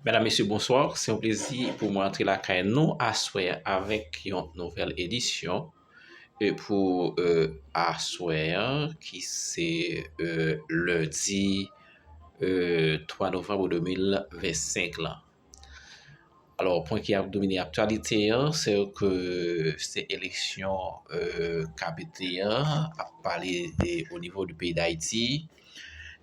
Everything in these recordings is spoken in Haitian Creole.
Mèdam mesye bonswa, se yon plezi pou mwen antre lakay nou aswè a avèk yon nouvèl edisyon e pou aswè a ki se lendi 3 novanm 2025 lan. Alò pwen ki ap domine aktyalite a se ke se eleksyon k ap pete a, ap pale o nivo di peyi Dayiti.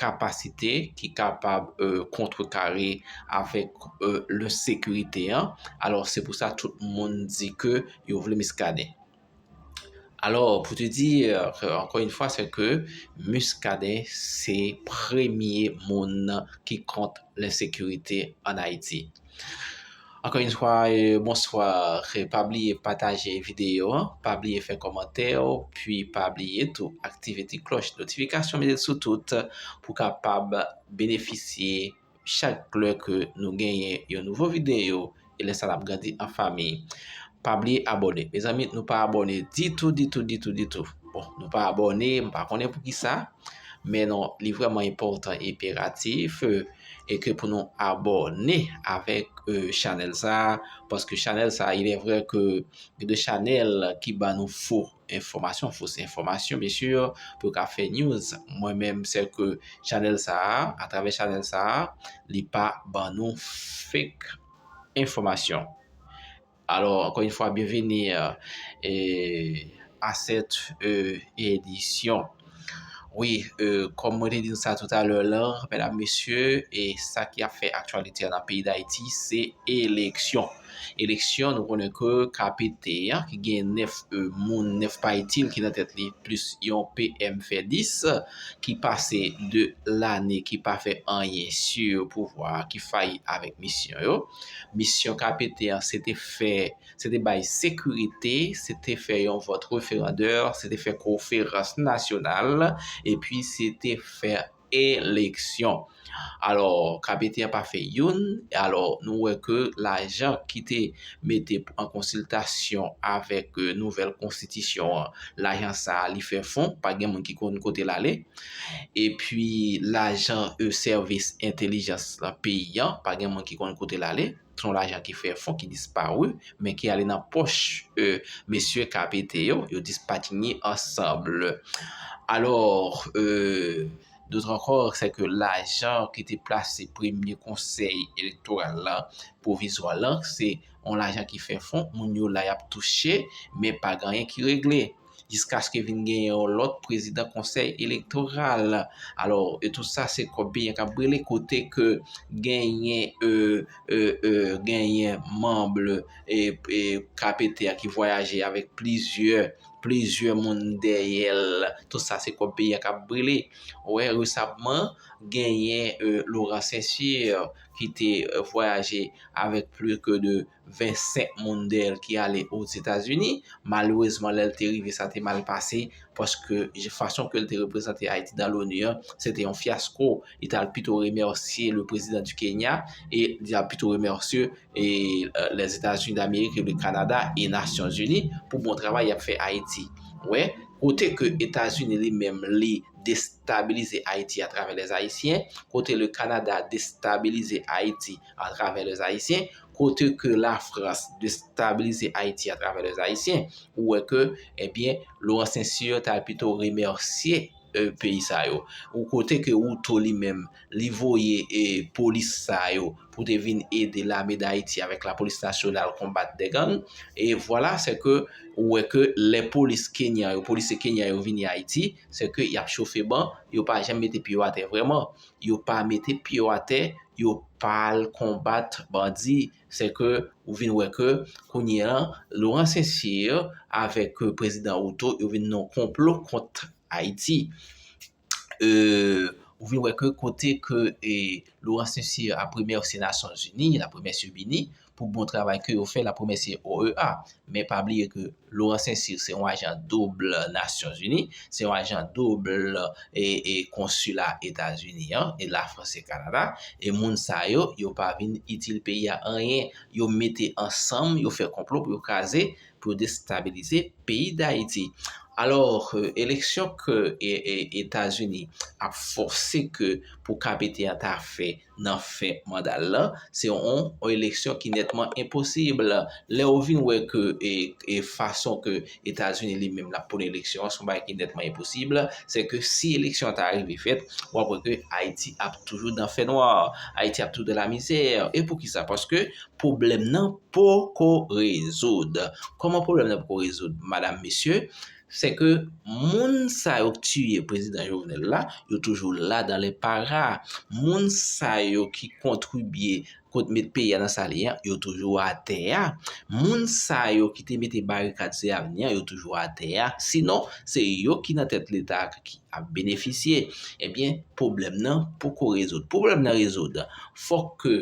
kapasite ki kapab kontre kare avèk le sekirite an. Alò se pou sa tout moun di ke yo vle Muscadin. Alò pou te di ankon yon fwa se ke Muscadin se premye moun ki kont le sekirite an Ayiti. Ankò yn fwa bonswa pa bliye pataje videyo an pa bliye fè kòmantè pi pa bliye tou aktive ti klòch notifikasyon mete l sou tout pou w kapab benefisye chak lè ke nou genyen yon nouvo videyo e lè sa n ap grandi an fanmi pa bliye abòne mezanmi nou pa abòne ditou ditou ditou ditou bon nou pa abòne m pa konnen poukisa men non li vrèman enpòtan enperatif. e ke pou nou abòne avèk chanèl sa a, paske chanèl sa a ilè vrè ke gen de chanèl ki ban nou fo enfòmasyon, fo se enfòmasyon mesye yo, pou yo ka fè news, mwen menm sè ke chanèl sa a, a travè chanèl sa a, li pa ban nou fake enfòmasyon. Alò ankò yn fwa byenveni a sèt edisyon. Wi kòm mwen te di nou sa tout a lè lan medam mesye e sa ki ap fè aktyalite an nan peyi dayiti se eleksyon. Eleksyon nou konnen ke KPT an ki gen 9 moun 9 pa itil ki nan tèt li plis yon PM fè 10 ki pase 2 lane ki pa fè anyen su pouvwa ki fayi avèk misyon yo. Misyon KPT an se te fè, se te bay sekirite, se te fè yon vòt referandè, se te fè koferans nasyonal, epi se te fè eleksyon. Alò, KPT an pa fè youn, alò nou wè ke lajan ki te mete an konsiltasyon avèk nouvèl konstitisyon an, lajan sa a li fè fon, pa gen moun ki konn kote l ale. Epi lajan e sèvis entelijans lan peyi an, pa gen moun ki konn kote l ale. Se yon lajan ki fè fon, ki disparu, men ki ale nan pòch e mesye KPT yo, yo dispatinye ansanbl. Alò, e dotr ankò, se ke lajan ki te plase premye konsèy elektoral lan, pwovizwa lan, se yon lajan ki fè fon, moun yo la y ap touche, men pa gen anyen ki regle. jiskaske vin gen yon lòt prezidan konsèy elektoral. Alò, e tout sa se kòb biyen kap brile kote ke genyen e, e, e, genyen manble e, e, KPT a ki vwayaje avèk plizyè, plizyè moun dèyè l. Tout sa se kòb biyen kap brile. Wè, resabman, genyen e, Laurent Saint-Cyr ki te vwayaje avèk pli ke 2, 25 moun dèyè l ki ale Ozetazini. Malerezman, lè l te rive, sa te mal pase, paske fason ke l te reprezante Ayiti nan l'ONU an, se te yon fyasko. Li t al pito remèsye le prezidan di Kenya, e li t al pito remèsye Lèzetazini Damerik e le Kanada e Nasyonzini pou bon travay y ap fè Ayiti. Ou wè, kote ke Etazini li menm li destabilize Ayiti atravè Lèzayisyen, kote le Kanada destabilize Ayiti a travè lè zayisyen, kote ke la frans destabilize ayiti a travè lè zayisyen, ou wè ke, ebyen, eh Laurent Saint-Cyr ta pito remèsye peyi sa yo, ou kote ke ou to li menm, li voye e polis sa yo, pou te vin ede lame dayiti avèk la polis nasyonal konbat de gang, e vwala se ke, ou wè ke lè polis kenyan yo, polisye kenyan yo vini ayiti, se ke yap chofe ban, yo pa janm mete pye yo atè vreman. yo pa mete pye yo atè, yo pa al konbat bandi. Se ke ou vin wè ke kounye an, Laurent Saint-Cyr avèk prezidan Ruto yo vin nan konplo kont Ayiti. Ou vin wè ke kote ke Laurent Saint-Cyr ap remèsye Nasyon Zini, l ap remèsye BINIH, pou bon travay ke yo fè lap remèsye OEA. Men pa bliye ke Laurent Saint-Cyr se yon ajan double Nations Unies, se yon ajan double e konsila Etazini an, e la France et Canada, e moun sa yo, yo pa vin itil peyi a anyen, yo mete ansanm, yo fè konplo pou yo kraze, pou yo destabilize peyi d'Haiti. Alors, eleksyon ke Etazini ap fòse ke pou KPT an ta fè, nan fen manda l lan, se yon eleksyon ki nètman enposib. Lè ou vin wè ke e fason ke Etazini li menm l ap pwone eleksyon an, se yon bagay ki nètman enposib, se ke si eleksyon an ta rive fèt, w ap wè ke Ayiti ap toujou nan fè nwa, Ayiti ap toujou nan lamizè. E pou ki sa? Paske pwoblèm nan poko rezoud. Kòman pwoblèm nan poko rezoud, madam, mesye? Se ke moun sa yo ki tiye prezidan Jovenel la, yo toujou la dan le para. Moun sa yo ki kontribye pou te mete peyi a nan sa li an, yo toujou atè a. Moun sa yo ki te mete barikad se avni an, yo toujou atè a. Sinon, se yo ki nan tèt leta a ki ap benefisye. Ebyen, pwoblèm nan poko rezoud. Pou pwoblèm nan rezoud, fòk ke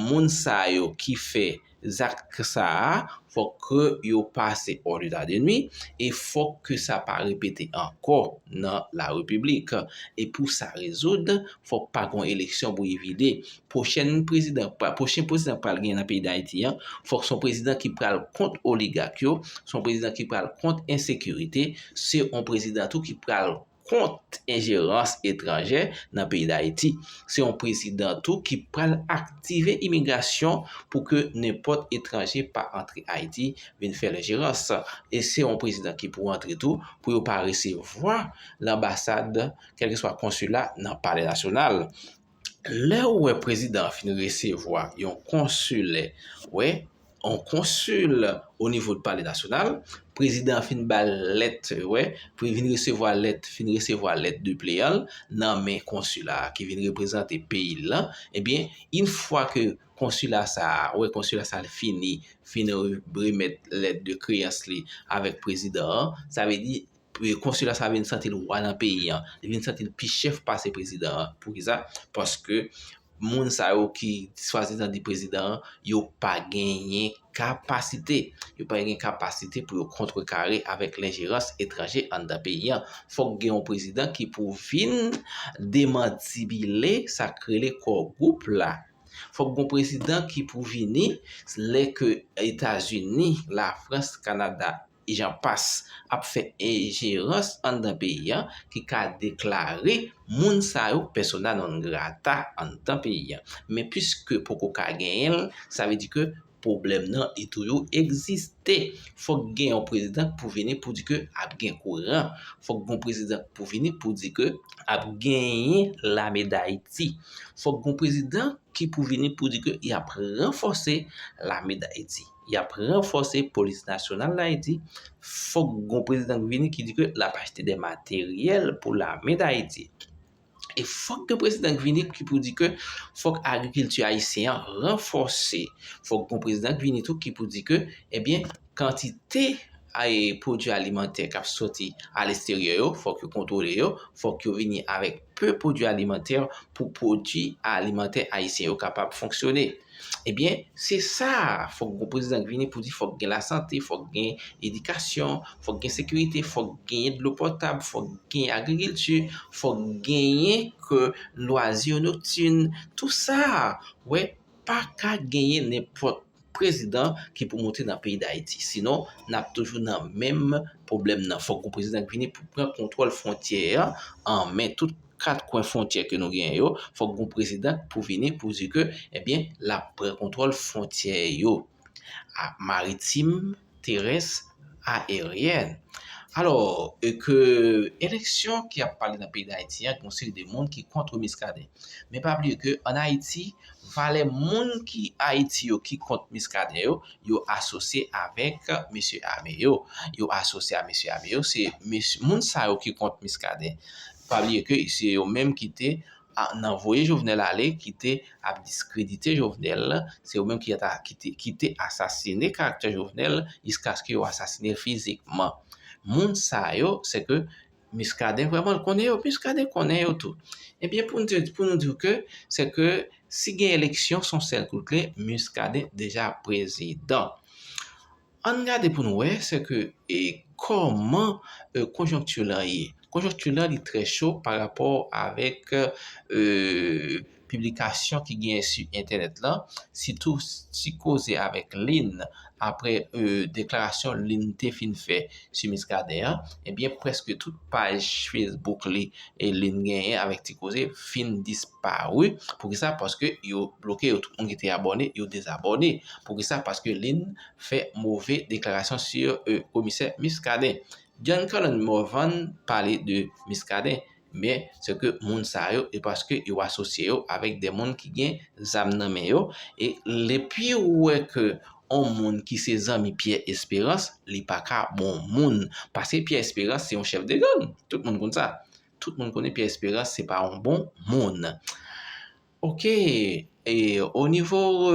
moun sa yo ki fè zak sa a, fòk ke yo pase hors d'état de nuit, e fòk ke sa pa repete ankò nan la repiblik. E pou sa rezoud, fòk pa gon eleksyon bouyi vide. Pwochen prezidan k pral gen nan peyi Dayiti an, fòk son prezidan ki pral kont oligak yo, son prezidan ki pral kont ensekirite, se yon prezidan tou ki pral kont enjerans etranjè nan peyi Dayiti. Se yon prezidan tou ki pral aktive imigrasyon pou ke nenpòt etranje pa antre Ayiti vin fè lenjerans. E se yon prezidan ki pou antre tou pou yo pa resevwa lanbasad, kèlkeswa konsila nan palè nasyonal. Lè ou wè prezidan an fin resevwa yon konsilè, wè, yon konsil o nivo de pale nasyonal, prezidan an fin ba l lèt, wè, pou li vin resevwa lèt, fin resevwa lèt depleyan l nan men konsila a ki vin reprezante peyi l lan, ebyen, in fwa ke konsila sa a, wè, konsila sa a li fini, fin remèt lèt de kreyans li avèk prezidan an, sa vle di, Konsila sa vin santi l wa nan peyi an. Li vin santi l pi chèf pase prezidan an. Poukisa? Paske moun sa yo ki swadizan di prezidan an, yo pa genyen kapasite. Yo pa genyen kapasite pou yo kontrekare avèk lenjerans etranje anndan peyi an. Fòk gen yon prezidan ki pou vin demantibile sa k rele Kò Gwoup la. Fòk gen yon prezidan ki pou vini lè ke Etazini, Lafrans, Kanada, Jan pas ap fè enjerans anndan peyi an ki ka deklare moun sa yo persona non grata anndan peyi an. Men piske poko ka genyen l, sa vle di ke pwoblèm nan li toujou egziste. Fòk gen yon prezidan k pou vini pou di ke ap gen kouran. Fòk gen yon prezidan k pou vini pou di ke ap genyen lame dayiti. Fòk gen yon prezidan ki pou vini pou di ke y ap ranfòse lame dayiti. Y ap ranfòse polis nasyonal Dayiti, fòk gon prezidan ki vini ki di ke l ap achte de materyèl pou lame Dayiti. E fòk gen prezidan ki vini ki pou di ke fòk agrikilti ayisyen an ranfòse. Fòk gon prezidan ki vini tou ki pou di ke ebyen kantite Ay pwodui alimantè k ap soti alesterye yo, fòk yo kontwole yo, fòk yo vini avèk pe pwodui alimantè pou pwodui alimantè ayisyen yo kapab fonksyone. Ebyen, se sa a, fòk gon prezidan k vini pou di fòk gen lasante, fòk gen edikasyon, fòk gen sekirite, fòk genyen dlo potab, fòk genyen agrikilti, fòk genyen ke lwazi noktin, tou sa a, wè, pa ka genyen nenpòt. prezidan ki pou monte nan peyi dayiti sinon nap toujou nan menm pwoblèm nan fòk yon prezidan ki vini pou pran kontwòl fwontyè an men tout kat kwen fwontyè ke nou genyen yo fòk yon prezidan pou vini pou di ke ebyen lap pran kontwòl fwontyè yo maritim terès, aeryèn. Alò, e ke eleksyon ki ap pale nan peyi Dayiti an, yon seri de moun ki kontre Miskaden. Men pa bliye ke an Ayiti, valè moun ki Ayiti yo ki kont Miskaden yo, yo asosye avèk mesye ame yo. Yo asosye a mesye ame yo, se moun sa yo ki kont Miskaden. Pa bliye ke se yo menm ki te nan voye jovenel ale kite ap diskredite jovenel se yo menm ki ata kite kite asasine karaktè jovenel jiskaske yo asasine fizikman moun sa yo seke miskaden vreman konnen yo miskaden konnen yo tou ebyen poun te pou nou diw ke seke si gen eleksyon son sèl kout kle miskaden deja prezidan Ann gade pou n wè sè ke kòman konjonkti la ye. Konjonkti la li trè cho pa rapò avèk piblikasyon ki genyen sou entènèt la, sitou ti koze avèk Lynn aprè deklarasyon Lynn te fin fè Msye Muscadin an, ebyen preske tout paj Facebook li e li n genyen avèk Ti Koze fin disparu. Poukisa? Paske yo bloke yo. Tout moun ki te abòne, yo dezabòne. Poukisa? Paske li n fè move deklarasyon sur Komisè Muscadin. John Colin Morvan pale de Muscadin. men se ke moun sa yo e paske yo asosye yo avèk de moun ki gen zam nan men yo e depi ou wè ke yon moun ki se zanmi Pierre Espérance li pa ka bon moun paske Pierre Espérance se yon chèf de gang tout moun konn sa tout moun konnen Pierre Espérance se pa yon bon moun. Ok o nivo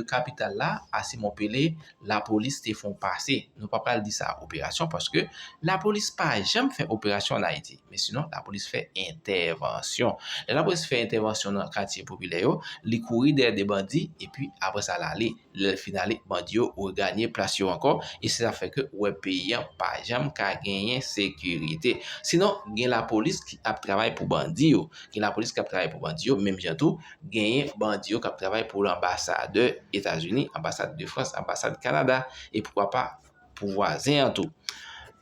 kapital la a Simon Pele la polis te fon pase nou pa pral di sa operasyon paske la polis pa janm fè operasyon an Ayiti men sinon la polis fè entèvansyon lè la polis fè entèvansyon nan katye popilè yo li kouri dèyè de bandi epi aprè sa l ale. Lè l fin ale, bandi yo reganye plas yo ankò e se sa fè ke ou wè peyi an pa janm ka genyen sekirite. Sinon, gen lapolis ki ap travay pou bandi yo. Gen lapolis ki ap travay pou bandi yo, menm jan tou, genyen bandi yo k ap travay pou lanbasadè Etazini, anbasad de Frans, anbasad Kanada e poukwa pa, pou vwazen an tou.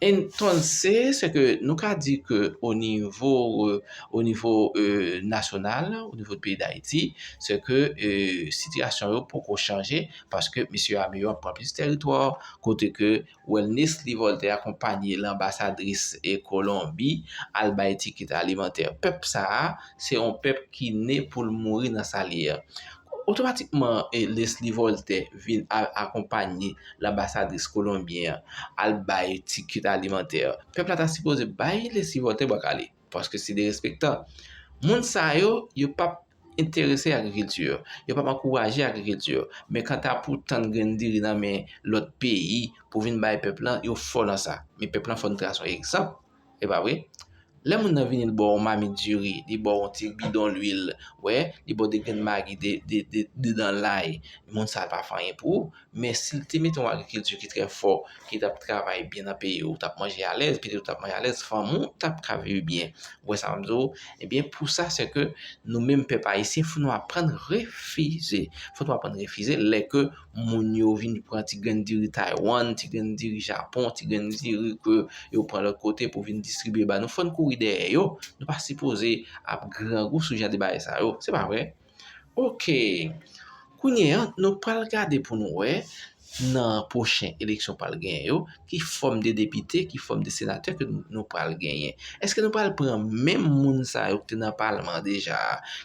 Entonces, se ke nou ka di ke o nivo, o nivo nasyonal, o nivo peyi Dayiti, se ke sitiyasyon yo poko chanje, paske misye ame yo ap pran plis teritwa, kote ke Welnitely Voltaire akonpanye lanbasadris e Kolonbi al bay tikit alimantè. Pèp sa a, se yon pèp ki ne pou l mouri nan sa l ye a. Otomatikman, Lesly Voltaire vin al akonpanye. lanbasadris kolonbyen an al bay ti kit alimantè yo pèp la ta sipoze bay lesi vòte bwa kale paske se derespektan moun sa yo yo pap enterese agrikilti yo yo pap ankouraje agrikilti yo men kanta pou tann grenn diri nan men lòt peyi pou vin bay pèp la yo fò nan sa men pèp la fò n trase yon egzanp E pa vre? Lè moun nan vini li ba w yon mamit diri, li ba w yon ti bidon lwil, wè, li ba w 2 grenn magi, 2 dan lay, moun sa a pa fè anyen pou ou. Men si l te mete yon agrikilti ki trè fò, ki t ap travay byen nan peyi, ou t ap manje alèz, pitit ou t ap manje alèz, fanmi w t ap ka viv byen. Ou wè sa m ap di w? Ebyen, pou sa se ke nou menm pèp ayisyen fò nou aprann refize. Fò nou aprann refize lè ke moun yo vin pran ti grenn diri Taiwan, ti grenn diri Japon, ti grenn diri ke yo pran lòt kote pou vin distribye ba nou, fò n kouri dèyè yo, nou pa sipoze ap grangou sou jan de bagay sa yo, se pa vre? Ok, kounye an, nou pral gade pou nou wè, nan pwochen eleksyon pral genyen yo, Ki fòm de depite, ki fòm de senatè ke nou pral genyen? Eske nou pral pran menm moun sa yo ki te nan palman an deja,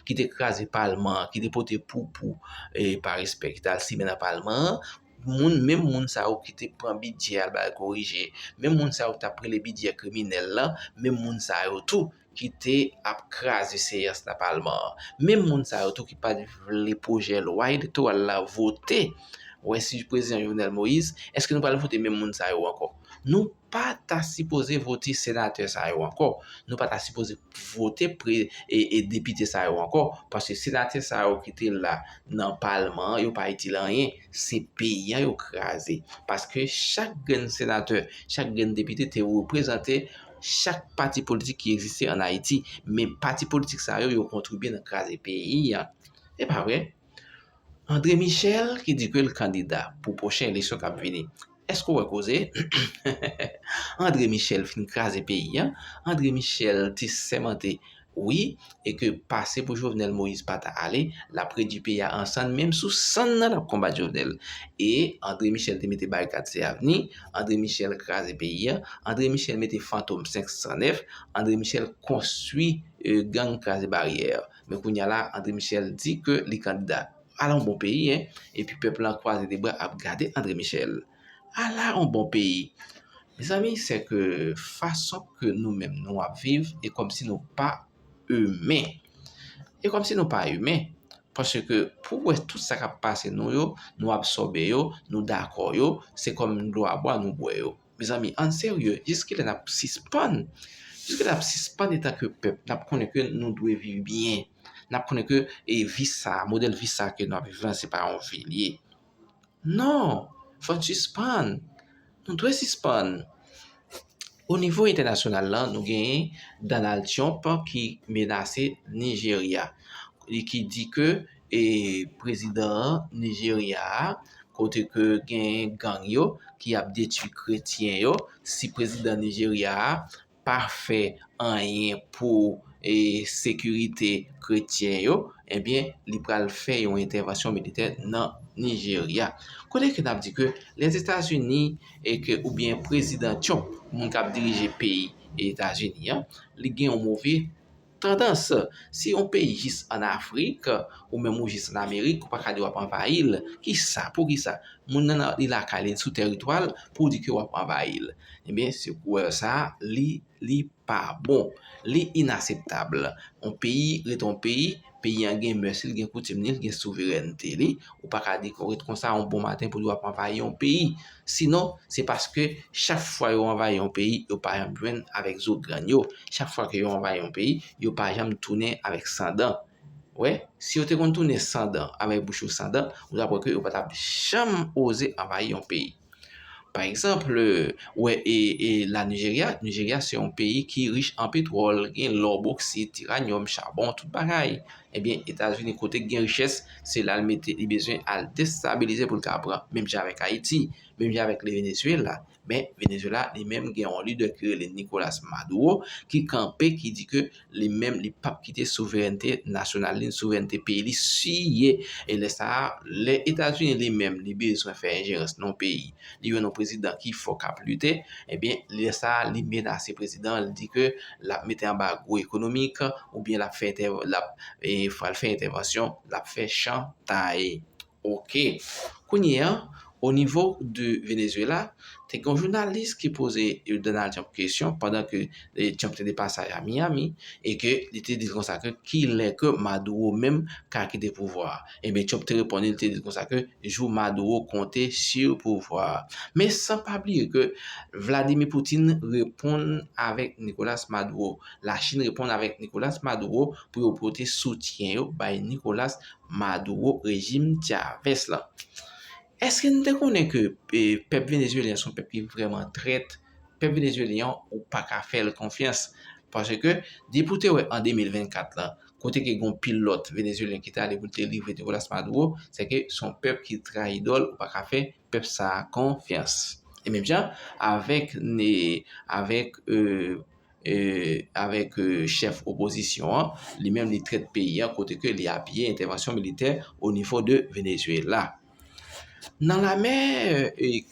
ki te kraze palman an, ki te pote poupou e pa respè ki te al simen nan palman an, moun menm moun sa yo ki te pran bidjè al ba yo korije, menm moun sa yo ki t ap rele bidjè kriminèl lan, menm moun sa yo tou ki te ap kraze seyans nan palman an. Menm moun sa yo tou ki pat vle pwojè lwa elektoral la vote, wè si prezidan Jovenel Moïse, eske nou pral vote menm moun sa yo ankò? Nou pa ta sipoze vote senatè sa yo ankò, nou pa ta sipoze vote depite sa yo ankò, paske senatè sa yo ki te la nan palman an, yo pa itil anyen, se peyi an yo kraze. Paske chak grenn senatè, chak grenn depite te reprezante chak pati politik ki egziste an Ayiti, men pati politik sa yo, yo kontribye nan kraze peyi a. E pa vre? André Michel ki di ke l kandida pou pwochen eleksyon k ap vini. Èske ou wè koze? André Michel fin kraze peyi a. André Michel te sèmante Wi e ke pase pou jovenel moise pata ale lap redwi peyi a an sann menm sou sann nan lap konbat jovenel e andre michel te mete barikad se avni andre michel kraze peyi a andre michel mete fantom 509 andre michel konstwi gang kraze baryè men kounya la andre michel di ke li kandida ala yon bon peyi epi pèp lan kwaze de bra ap gade andre michel. Ala on bon peyi! Mezanmi se ke fason ke nou menm nou ap viv e kom si nou pa imen. E kom si nou pa imen. Paske pou w wè tout sa kap pase nou yo, nou absòbe yo, nou dakò yo, se kom dlo a bwa nou bwè yo. Mezanmi ann serye, jiskilè nap sispann? Jiskilè nap sispann etan ke pèp? Nap konnen ke nou dwe viv byen. Nap konnen ke vi sa, modèl vi sa ke nou ap viv lan se pa yon vi li ye. Non! Fò n sispann! Nou dwe sispann! Onivo entènasyonal la, nou genyen Donald Trump ki menase Nijerya. Li ki di ke e prezidan Nijerya a, kote ke genyen gang yo ki ap detui kretyen yo, si prezidan Nijerya a pa fè anyen pou sekirite kretyen yo, ebyen li pral fè yon entèvansyon militè nan Nijerya. Kote ke nap di ke Lèzetazini e ke oubyen prezidan Trump, moun kap dirije peyi Etazini an, li gen yon move. Tandans, Si yon peyi jis an Afrik, ou menm ou jis an Amerik, ou pa ka di w ap anvayi l. Ki sa? Pou ki sa? Moun nan li lakay li, li sou tèritwa l, pou w di ke w ap anvayi l. Ebyen, se kouwèl sa a, li, li pa bon. Li inaseptab. Yon peyi rete yon peyi, peyi an gen mès li, li gen koutim li, li gen souverènte li. Ou pa ka di ke w ret konsa yon bon maten pou w di w ap anvayi yon peyi. Sinon, se paske chak fwa yo anvayi yon peyi, yo pa janm jwenn avèk zo grann yo. Chak fwa ke yo anvayi yon peyi, yo pa janm tounen avèk san dan. Wè, si yo te konn tounen san dan, avèk bouch yo san dan, ou ta kwè ke yo pa tap janm oze anvayi yon peyi. Pa egzanp, wè e, e la Nijerya, Nijerya se yon peyi ki rich an petwòl, gen lò, boksi, tiranyòm, chabon, tout bagay. Ebyen etazini kote gen richès se lal mete li bezwen al destabilize poul ka pran menm jan avèk ayiti menm jan avèk le Venezuela men Venezuela li menm gen yon lidè ki rele Nicolas Maduro ki kanpe ki di ke li menm li pap kite souverènte nasyonal li souverènte peyi li siye e lè sa lè etazini li menm li bezwen fè enjerans nan yon peyi li wè yon prezidan ki fò k ap lite, ebyen lè sa a li menase prezidan an, li di ke l ap mete anbago ekonomik oubyen l ap fè entè, l ap pral fè entèvansyon, l ap fè chantay. Ok, kounye an onivo de Venezuela, te gen yon jounalis ki poze Donald Trump kesyon pandan ke Trump te depasaj a Miami e ke li te di l konsa ke kilè ke Maduro menm ka kite pouvwa a. Ebyen Trump te reponn li te di konsa ke jou Maduro konte sur pouvwa a. Men san pa bliye ke Vladimir Putin reponn avèk Nicolas Maduro. La Chine reponn avèk Nicolas Maduro pou yo pote soutyen yo bay Nicolas Maduro rejim Chavez la. Eske nou te konnen ke pèp Venezuelyen son pèp ki vreman trèt? Pèp Venezuelyen an ou pa ka fè l konfyans paske depi w te wè an 2024 lan kote ke gon pil lòt Venezuelyen ki te ale pou l te livre Nicolas Maduro se ke s on pèp ki trayi idòl ou pa ka fè pèp sa a konfyans e menm jan avèk avèk avèk chèf opozisyon an, li menm li trèt peyi an kote ke li apiye entèvansyon militè o nivo de Venezuela. Nan lame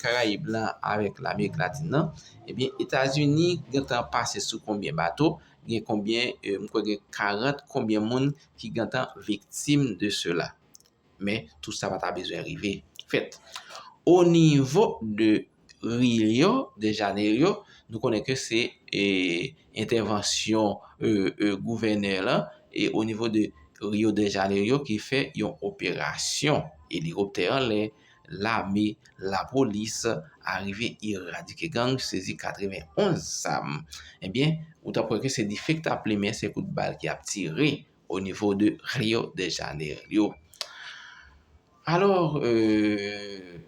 Karayib la avèk Lamerik Latin nan, ebyen Etazini gentan pase sou konbyen bato, gen konbyen, m kwè gen 40 konbyen moun ki gentan viktim de sela. Men, tout sa pa ta bezwen rive fèt. O nivo de Rio de Janeiro, nou konnen ke se entèvansyon gouvènè la, e o nivo de Rio de Janeiro ki fè yon operasyon elikoptè anlè, lame, lapolis, arive eradike gang, sezi 91 zam. Ebyen, ou ta kwè ke se dife ki ta plimen, se kout bal ki ap tire, au niveau de Rio de Janerio. Alors, euh,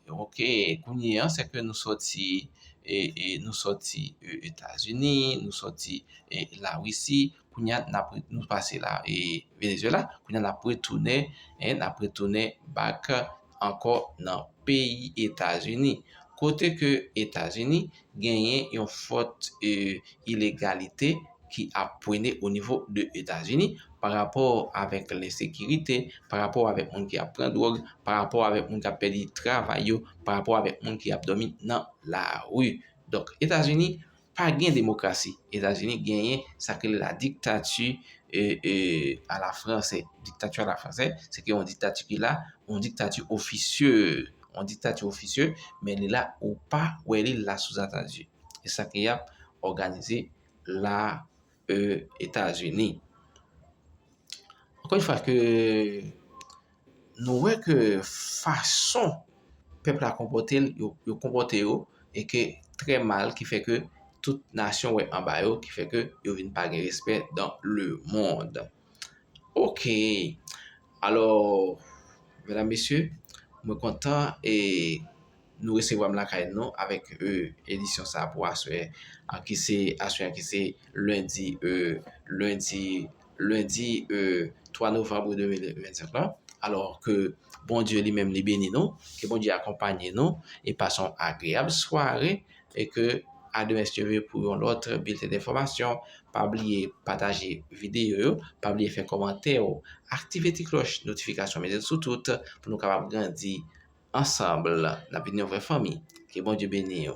ok, kounye an, se ke nou soti, e, e, nou soti Etazini, nou soti e, la Wisi, kounye an, nap, nou pase la e, Venezuela, kounye an nap retounen, e, nap retounen back ankò nan peyi Etazini. Kote ke Etazini, genyen yon fòt ilegalite ki ap pwene o nivo de Etazini pa rapò avèk lensekirite, pa rapò avèk moun ki ap pran dwòg, pa rapò avèk moun ki ap pèdi travay yo, pa rapò avèk moun ki ap dòmi nan lari. Donk, Etazini pa gen demokrasi. Etazini genyen sa ki rele la diktati a la franse. Diktati a la franse, se ke yon diktati ki la, yon diktati ofisye. yon diktati ofisye, men li la ou pa wè li la souzantandi. E sa ki ap òganize la e Etazini. Ankon yon fwa ke nou wè ke fason pèp la konpote l, yo konpote yo, e ke trè mal ki fè ke tout nasyon wè anba yo, ki fè ke yo vin pa gen respè dan le mond. Ok alò medam mesye mwen kontan e nou resevwa m lakay nou avèk e edisyon sa pou aswè a ki se aswè a ki se lendi e lendi lendi e 3 novanm 2025 lan alò ke Bondye li menm li beni nou ke Bondye akonpanye nou e pase yon agreyab sware. e ke a demen steve pou yon lòt bilten denfòmasyon pa bliye pataje videyo yo pa bliye fè kòmantè ou aktive ti klòch notifikasyon mete l sou tout pou nou kapab grandi ansanm nap vin yon vrè fanmi ke bondye beniw.